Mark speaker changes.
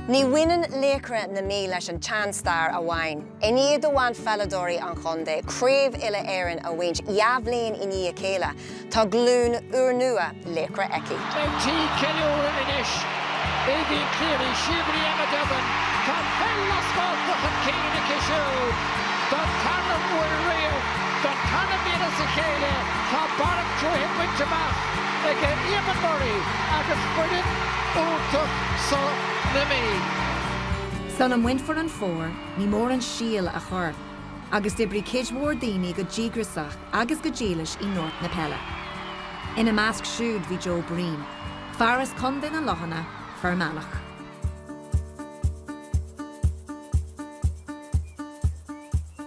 Speaker 1: Ní bhaineann Laochra na Mí leis an tseanstair amháin. I ndiaidh do bhanpheileadóirí an chontae Craobh Uile-Éireann a bhaint dhá bhliain i ndiaidh a chéile, tá glúin úrnua laochra aici. Ag tigh
Speaker 2: ceiliúradh anois, Aoibhín Cleary, Síobhairí Emma Duggan, tá peil na Spártach chun cinn aici siúd don tarna huair riamh. Don tarna bliain as a chéile tá barr na cruaiche bainte amach ag Eamon Murray agus foireann iontach so na Mí.
Speaker 3: Sula mbainfear an fómhar, ní mór an síol a chur, agus d'oibrigh cuid mhór daoine go díograsach agus go dílis i ngort na peile. Ina measc siúd bhí Joe Breen, fear as Contae na Lochanna, Fear Manach.